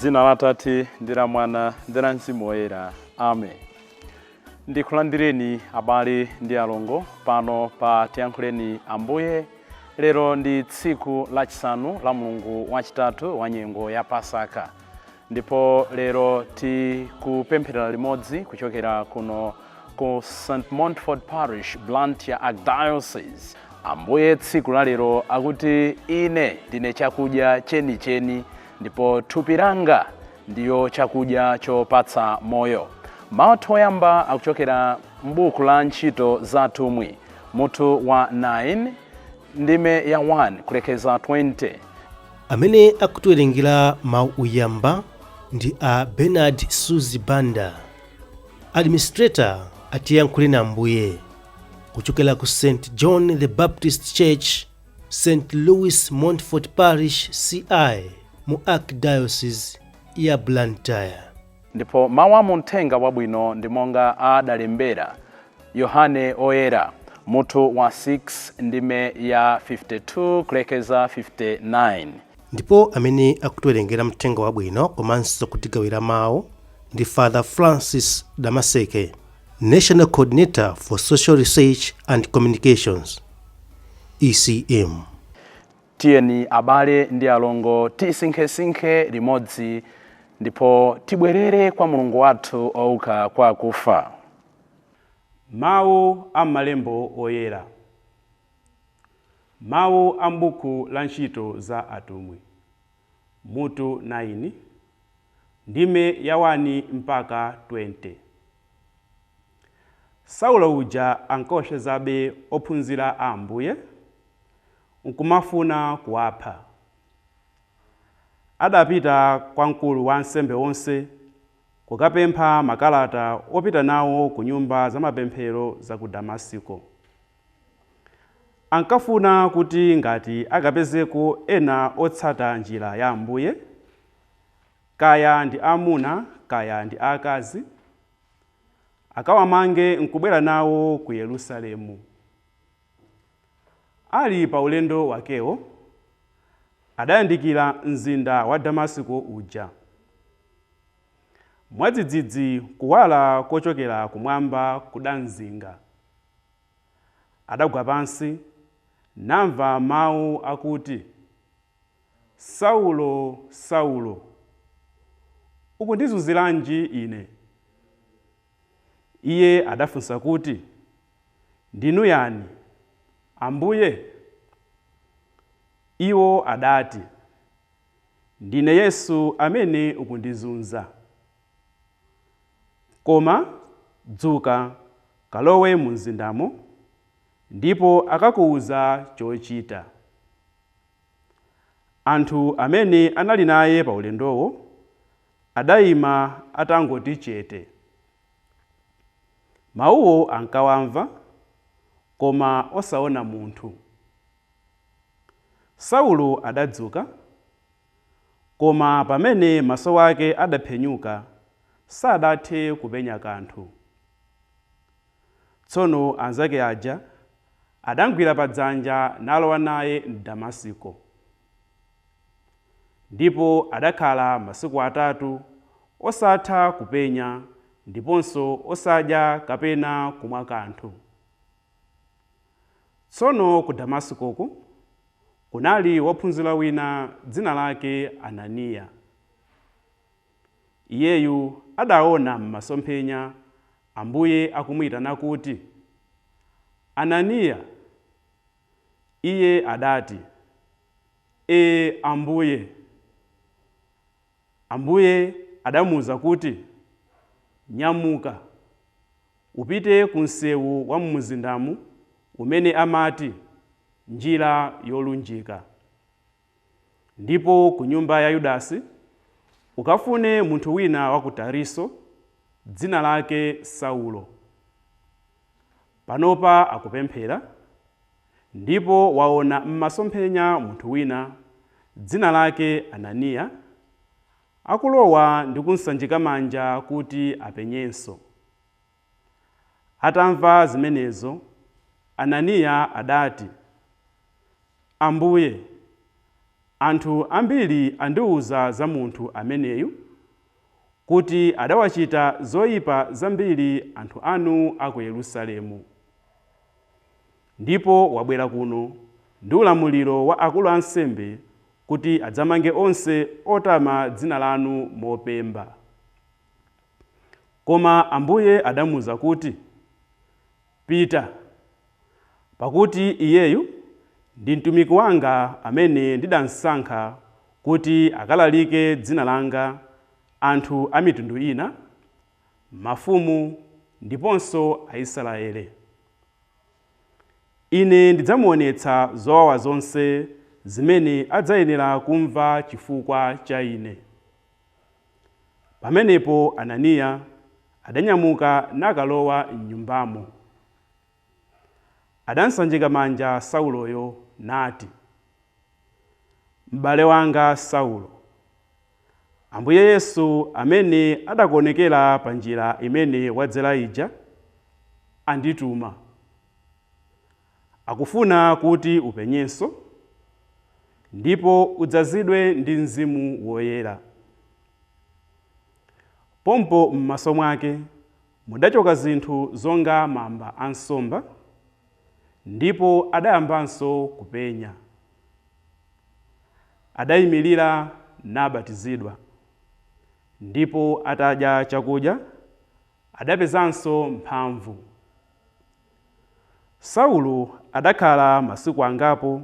dzina la atate ndi la mwana ndi la mzimu woyera amen ndikulandireni abale ndi alongo pano pa tiyankhuleni ambuye lero ndi tsiku lachisanu la mlungu wachitatu wa nyengo ya pasaka ndipo lero tikupemphera limodzi kuchokera kuno ku st montfort parish blantyre archdiocese ambuye tsiku la lero akuti ine ndine chakudya chenicheni ndipo thupi langa ndiyo chakudya chopatsa moyo mawu athu oyamba akuchokera m'buku la ntchito za atumwi mutu wa 9 ndime ya 1 kulekeza 20. Amene akutiwerengera mawu oyamba ndi a Bernard Suzi Banda, administrator a Tiyankhuleni Ambuye kuchokera ku St John the Baptist Church, St Louis Montfort Parish, CI mu Archdiocese ya Blantyre. Ndipo mawu a mu Mthenga Wabwino ndi monga adalembera Yohane Woyera, mutu wa 6 ndime ya 52 kulekeza 59. Ndipo amene akutiwerengera Mthenga Wabwino komanso kutigawira mawu ndi Father Francis Damaseke, National Coordinator for Social Research and Communications, ECM. Tiyeni abale ndi alongo tisinkhesinkhe limodzi ndipo tibwerere kwa Mulungu wathu wouka kwa akufa. Mawu a M'malembo Oyera. Mawu a m'buku la Ntchito za Atumwi, mutu 9, ndime ya 1 mpaka 20. Saulo uja ankaopsezabe ophunzira a Ambuye. nkumafuna kuwapha. Adapita kwa mkulu wa ansembe onse kukapempha makalata opita nawo ku nyumba za mapemphero za ku Damasiko. Ankafuna kuti ngati akapezeko ena otsata Njira ya Ambuye, kaya ndi amuna kaya ndi akazi, akawamange nkubwera nawo ku Yerusalemu. Ali pa ulendo wakewo, adayandikira mzinda wa Damasiko uja. Mwadzidzidzi kuwala kochokera kumwamba kudamzinga. Adagwa pansi, namva mawu akuti, Saulo, Saulo, ukundizunziranji Ine? Iye adafunsa kuti, Ndinu yani, Ambuye? Iwo adati, Ndine Yesu amene ukundizunza. Koma dzuka, kalowe mumzindamo, ndipo akakuuza chochita. Anthu amene anali naye pa ulendowo Adaima atangoti chete. Mawuwo ankawamva, koma osaona munthu. Saulo adadzuka, koma pamene maso ake adaphenyuka, sadathe kupenya kanthu. Tsono anzake aja adamgwira pa dzanja nalowa naye m'Damasiko. Ndipo adakhala masiku atatu osatha kupenya, ndiponso osadya kapena kumwa kanthu. Tsono ku Damasikoku kunali wophunzira wina dzina lake Ananiya. Iyeyu adaona m'masomphenya Ambuye akumuitana kuti, Ananiya! Iye adati, E, Ambuye! Ambuye adamuuza kuti, Nyamuka, upite ku msewu wa mumzindamu umene amati, Njira Yolunjika. Ndipo ku nyumba ya Yudasi ukafune munthu wina wa ku Tariso, dzina lake Saulo. Panopa akupemphera, ndipo waona m'masomphenya munthu wina, dzina lake Ananiya, akulowa ndi kumsanjika manja kuti apenyenso. Atamva zimenezo, Ananiya adati, Ambuye, anthu ambiri andiwuza za munthu ameneyu kuti adawachita zoipa zambiri anthu anu a ku Yerusalemu. Ndipo wabwera kuno ndi ulamuliro wa akulu a ansembe kuti adzamange onse otama dzina lanu mopemba. Koma Ambuye adamuuza kuti, Pita, pakuti iyeyu ndi mtumiki wanga amene ndidamsankha kuti akalalike dzina langa anthu a mitundu ina, mafumu, ndiponso Aisraele. Ine ndidzamuwonetsa zowawa zonse zimene adzayenera kumva chifukwa cha Ine. Pamenepo Ananiya adanyamuka nakalowa m'nyumbamo. Adamsanjika manja Sauloyo nati, Mbale wanga Saulo, Ambuye Yesu amene adakuwonekera pa njira imene wadzera ija, andituma. Akufuna kuti upenyenso, ndipo udzazidwe ndi Mzimu Woyera. Pompo m'maso mwake mudachoka zinthu zonga mamba a nsomba, ndipo adayambanso kupenya. Adayimilira nabatizidwa, ndipo atadya chakudya, adapezanso mphamvu. Saulo adakhala masiku angapo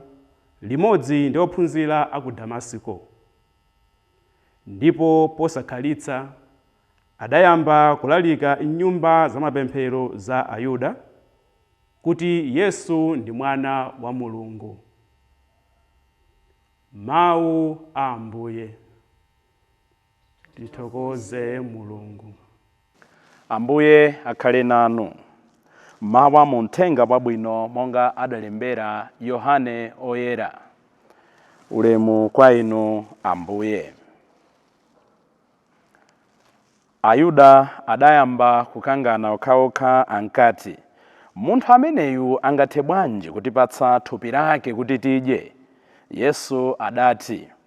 limodzi ndi ophunzira a ku Damasiko, ndipo posakhalitsa adayamba kulalika m'nyumba zamapemphero za Ayuda kuti Yesu ndi Mwana wa Mulungu. Mau a Ambuye. Tithokoze Mulungu. Ambuye akhale nanu. Mau a mu Mthenga Wabwino monga adalembera Yohane Oyera. Ulemu kwa Inu Ambuye. Ayuda adayamba kukangana okhaokha ankati, Munthu ameneyu angathe bwanji kutipatsa thupi lake kuti tidye? Yesu adati,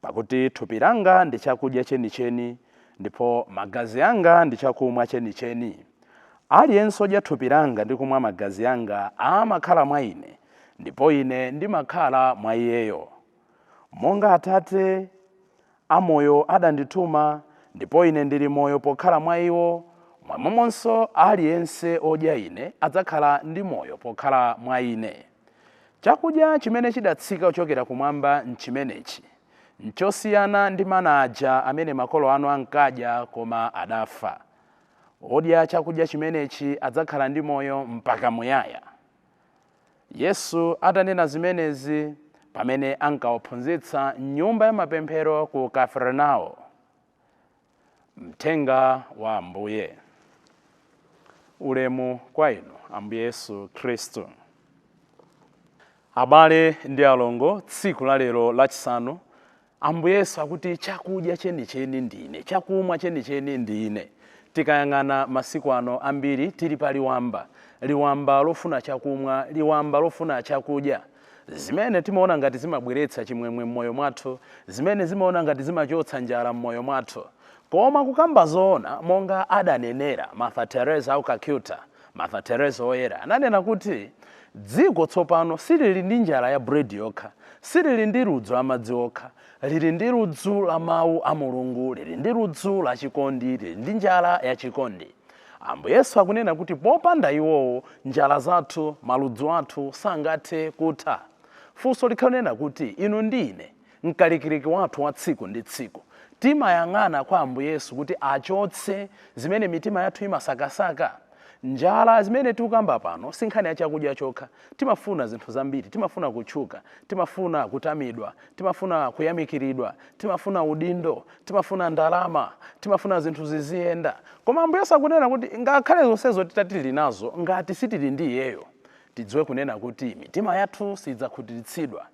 Pakuti thupi langa ndi chakudya chenicheni, ndipo magazi anga ndi chakumwa chenicheni. Aliyense wodya thupi langa ndi kumwa magazi anga amakhala mwa ine, ndipo ine ndimakhala mwa iyeyo. Monga Atate amoyo adandituma, ndipo ine ndili moyo pokhala mwa iwo, momwemonso aliyense wodya ine adzakhala ndi moyo pokhala mwa ine. Chakudya chimene chidatsika kuchokera kumwamba nchimenechi. Nchosiyana ndi mana aja amene makolo anu ankadya, koma adafa. Wodya chakudya chimenechi adzakhala ndi moyo mpaka muyaya. Yesu atanena zimenezi, pamene ankawaphunzitsa m'nyumba yamapemphero ku Kafarnao. Mthenga wa Ambuye. Ulemu kwa inu, Ambuye Yesu Khristu. Abale ndi alongo, tsiku la lero lachisanu, Ambuye Yesu akuti chakudya chenicheni ndine, chakumwa chenicheni ndine. Tikayang'ana masiku ano ambiri tili pa liwamba, liwamba lofuna chakumwa, liwamba lofuna chakudya. Zimene timaona ngati zimabweretsa chimwemwe m'moyo mwathu, zimene zimaona ngati zimachotsa njala m'moyo mwathu. Koma kukamba zoona, monga adanenera Mother Teresa wa ku Calcutta, Mother Teresa Woyera ananena kuti, Dziko tsopano silili ndi njala ya bread yokha, silili ndi ludzu la madzi okha, Lili ndi ludzu la Mawu a Mulungu, lili ndi ludzu la chikondi, lili ndi njala ya chikondi. Ambuye Yesu akunena kuti popanda iwowo, njala zathu, maludzu athu sangathe kutha. Funso likhale lonena kuti inu ndi ine, mkalikiliki wathu wa tsiku ndi tsiku, timayang'ana kwa Ambuye Yesu kuti achotse zimene mitima yathu imasakasaka? Njala zimene tikukamba pano si nkhani ya chakudya chokha. Timafuna zinthu zambiri. Timafuna kutchuka. Timafuna kutamidwa. Timafuna kuyamikiridwa. Timafuna udindo. Timafuna ndalama. Timafuna zinthu ziziyenda. Koma Ambuye Yesu akunena kuti ngakhale zonsezo titati tili nazo, ngati sitili ndi Iyeyo, Tidziwe kunena kuti mitima yathu siidzakhutiritsidwa.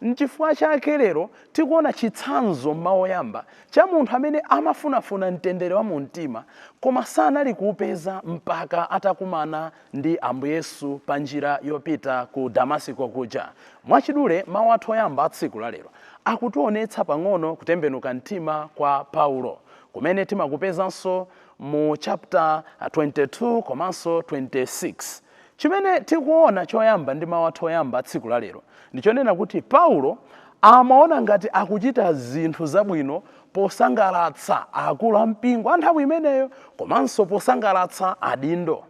N'chifukwa chake lero tikuona chitsanzo m'mawu oyamba cha munthu amene amafunafuna mtendere wa mumtima koma sanali kuupeza mpaka atakumana ndi Ambuye Yesu panjira yopita ku Damasiko kuja. Mwachidule, mawu athu oyamba a tsiku lalero akutionetsa pang'ono kutembenuka mtima kwa Paulo, kumene timakupezanso mu chapter 22 komanso 26. Chimene tikuona choyamba ndi mawu athu oyamba a tsiku la lero ndi chonena kuti Paulo amaona ngati akuchita zinthu zabwino posangalatsa akulu a mpingo a nthawi imeneyo komanso posangalatsa adindo.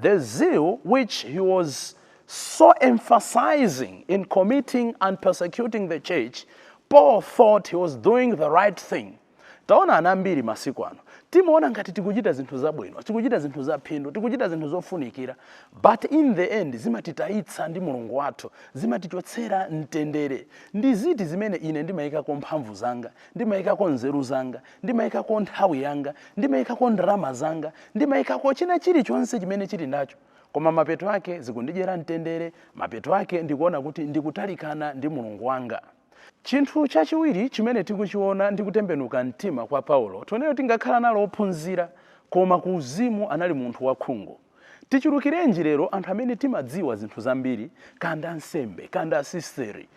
The zeal which he was so emphasizing in committing and persecuting the church, Paul thought he was doing the right thing. Taona anthu ambiri masiku ano, timaona ngati tikuchita zinthu zabwino, tikuchita zinthu zaphindu, tikuchita zinthu zofunikira, but in the end zimatitayitsa ndi Mulungu wathu, zimatichotsera mtendere. Ndi ziti zimene ine ndimayikako mphamvu zanga, ndimayikako nzeru zanga, ndimayikako nthawi yanga, ndimayikako ndalama zanga, ndimayikako china chilichonse chimene chili nacho, koma mapeto ake zikundidyera mtendere, mapeto ake ndikuona kuti ndikutalikana ndi Mulungu wanga. Chinthu chachiwiri chimene tikuchiona ndi kutembenuka mtima kwa Paulo. Tione kuti ngakhale anali ophunzira koma ku uzimu anali munthu wa khungu. Tichulukirenji lero anthu amene timadziwa zinthu zambiri kaya ndi ansembe, kaya ndi asisteri,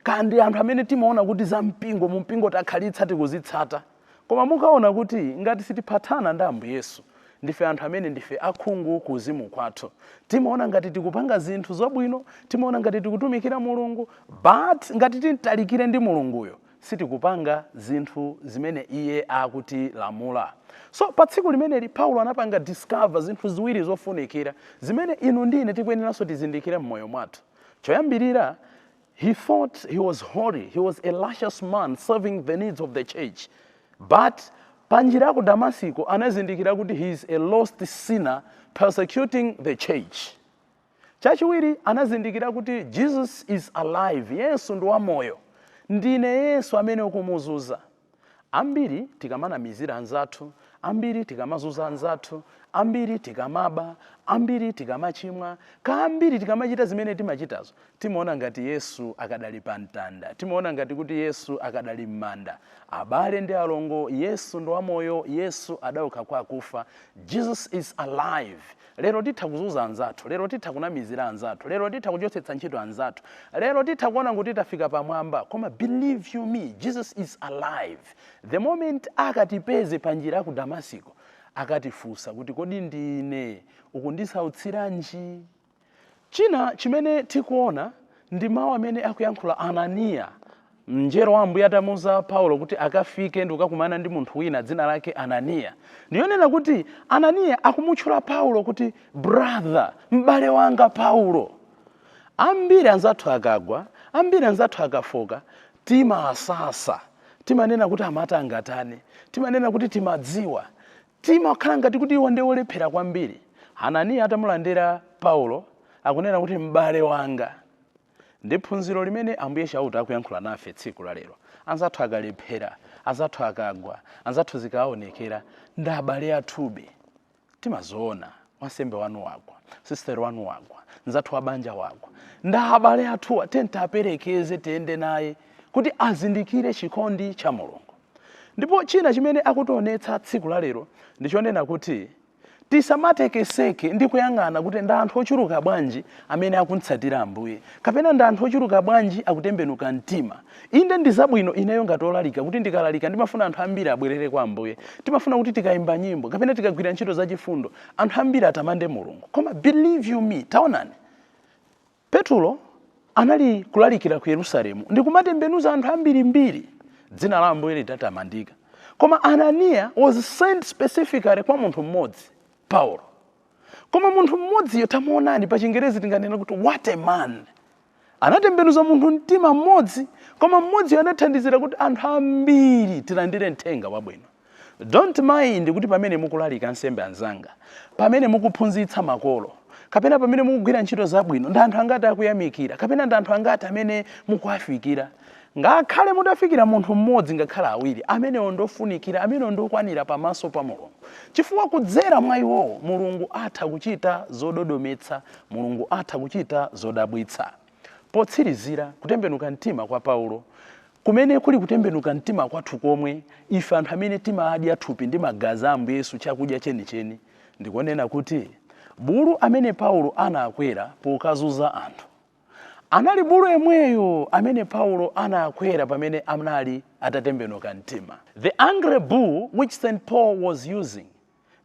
kaya ndi anthu amene timaona kuti za mpingo, mu mpingo takhalitsa tikuzitsata. Koma mukaona kuti ngati sitiphathana ndi Ambuye Yesu, ndife anthu amene ndife akhungu ku uzimu kwathu. Timaona ngati tikupanga zinthu zabwino, timaona ngati tikutumikira Mulungu, but ngati timtalikire ndi Mulunguyo, sitikupanga zinthu zimene Iye akutilamula. So, pa tsiku limeneli, Paulo anapanga discover zinthu ziwiri zofunikira zimene inu ndi ine tikuyeneranso tizindikire m'moyo mwathu. Choyambirira, He thought he was holy. He was a righteous man serving the needs of the church. But panjira ya ku Damasiko anazindikira kuti he is a lost sinner persecuting the church. Chachiwiri anazindikira kuti Jesus is alive. Yesu ndi wamoyo. Ndine Yesu amene ukumuzuza. Ambiri tikamanamizira anzathu, ambiri tikamazunza anzathu, ambiri tikamaba, ambiri tikamachimwa, ambiri tikamachita zimene timachitazo, timaona ngati Yesu akadali pa mtanda, timaona ngati kuti Yesu akadali m'manda. Abale ndi alongo, Yesu ndi wamoyo, Yesu adauka kwa akufa. Jesus is alive! Lero titha kuzunza anzathu, lero titha kunamizira anzathu, lero titha kuchotsetsa ntchito anzathu, lero titha kuona kuti tafika pamwamba koma believe you me Jesus is alive the moment akatipeze panjira ya ku Damasiko akatifunsa kuti kodi ndine ukundisautsiranji? China chimene tikuona ndi mawu amene akuyankhula Ananiya Mngelo wa Ambuye atamuuza Paulo kuti akafike ndi kukakumana ndi munthu wina dzina lake Ananiya, ndi yonena kuti Ananiya akumutchula Paulo kuti brother, m'bale wanga Paulo. Ambiri anzathu akagwa, ambiri anzathu akafooka, timasasa, timanena kuti amati angatani, timanena kuti timadziwa, timakhala ngati kuti iwo ndi olephera kwambiri. Ananiya atamulandira Paulo, akunena kuti m'bale wanga. Ndi phunziro limene Ambuye Chauta akuyankhula nafe tsiku la lero. Anzathu akalephera, anzathu akagwa, anzathu zikaaonekera, ndi abale athube. Timazoona, wansembe wanu wagwa, sister wanu wagwa, nzathu wa banja wagwa. Ndi abale athuwa, tiyeni tiaperekeze, tiyende naye kuti azindikire chikondi cha Mulungu. Ndipo china chimene akutionetsa tsiku la lero ndi chonena kuti Tisamatekeseke ndi kuyang'ana kuti ndi anthu ochuluka bwanji amene akum'tsatira Ambuye, kapena ndi anthu ochuluka bwanji akutembenuka mtima. Inde, ndi zabwino ineyo ngati olalika kuti ndikalalika ndimafuna anthu ambiri abwerere kwa Ambuye. Timafuna kuti tikaimba nyimbo, kapena tikagwira ntchito zachifundo, anthu ambiri atamande Mulungu. Koma believe you me, taonani! Petulo anali kulalikira ku Yerusalemu ndi kumatembenuza anthu ambirimbiri. Dzina la Ambuye litatamandika. Koma Ananiya was sent specifically kwa munthu mmodzi, Paulo. Koma munthu mmodziyo tamuonani pa Chingerezi tinganena kuti what a man. Anatembenuza munthu mtima mmodzi, koma mmodziyo anathandizira kuti anthu ambiri tilandire mthenga wabwino. Don't mind kuti pamene mukulalika ansembe anzanga, pamene mukuphunzitsa makolo, kapena pamene mukugwira ntchito zabwino, ndi anthu angati akuyamikira, kapena ndi anthu angati amene mukuwafikira. Ngakhale mutafikira munthu mmodzi ngakhale awiri, amenewo ndofunikira, amenewo ndokwanira pamaso pa Mulungu. Chifukwa kudzera mwa iwowo, Mulungu atha kuchita zododometsa, Mulungu atha kuchita zodabwitsa. Potsirizira, kutembenuka mtima kwa Paulo, kumene kuli kutembenuka mtima kwathu komwe, ife anthu amene timadya thupi ndi magazi a Ambuye Yesu chakudya chenicheni, ndiko nena kuti, bulu amene Paulo anakwera pokazunza anthu, anali bulu yemweyo amene Paulo anakwera pamene anali atatembenuka mtima. The angry bull which St. Paul was using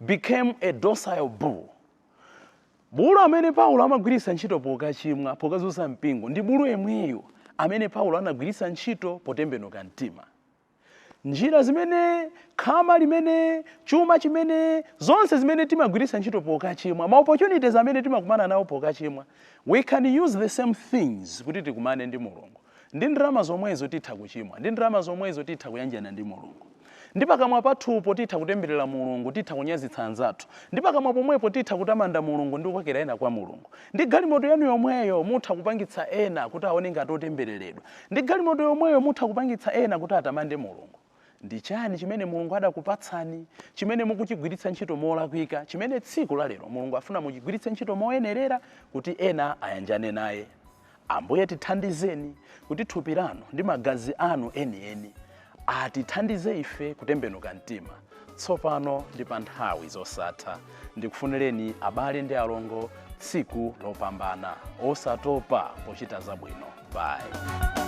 became a docile bull. Bulu amene Paulo amagwiritsa ntchito pokachimwa, pokazunza mpingo, ndi bulu yemweyo amene Paulo anagwiritsa ntchito potembenuka mtima. Njira zimene, khama limene, chuma chimene, zonse zimene timagwiritsa ntchito pokachimwa, ma opportunities amene timakumana nawo pokachimwa, we can use the same things kuti tikumane ndi Mulungu. Ndi ndalama zomwezo titha kuchimwa, ndi ndalama zomwezo titha kuyanjana ndi Mulungu. Ndi pakamwa pathupo titha kutemberera Mulungu, titha kunyazitsa anzathu. Ndi pakamwa pomwepo titha kutamanda Mulungu ndi kukokera ena kwa Mulungu. Ndi galimoto yanu yomweyo mutha kupangitsa ena kuti aone ngati otembereredwa. Ndi galimoto yomweyo mutha kupangitsa ena kuti atamande Mulungu. Ndi chani chimene Mulungu adakupatsani chimene mukuchigwiritsa ntchito molakwika chimene tsiku la lero Mulungu afuna muchigwiritse ntchito moyenerera kuti ena ayanjane naye? Ambuye, tithandizeni kuti thupi lanu ndi magazi anu enieni atithandize ife kutembenuka mtima tsopano ndi pa nthawi zosatha. Ndikufunireni abale ndi alongo tsiku lopambana, osatopa pochita zabwino. Bye.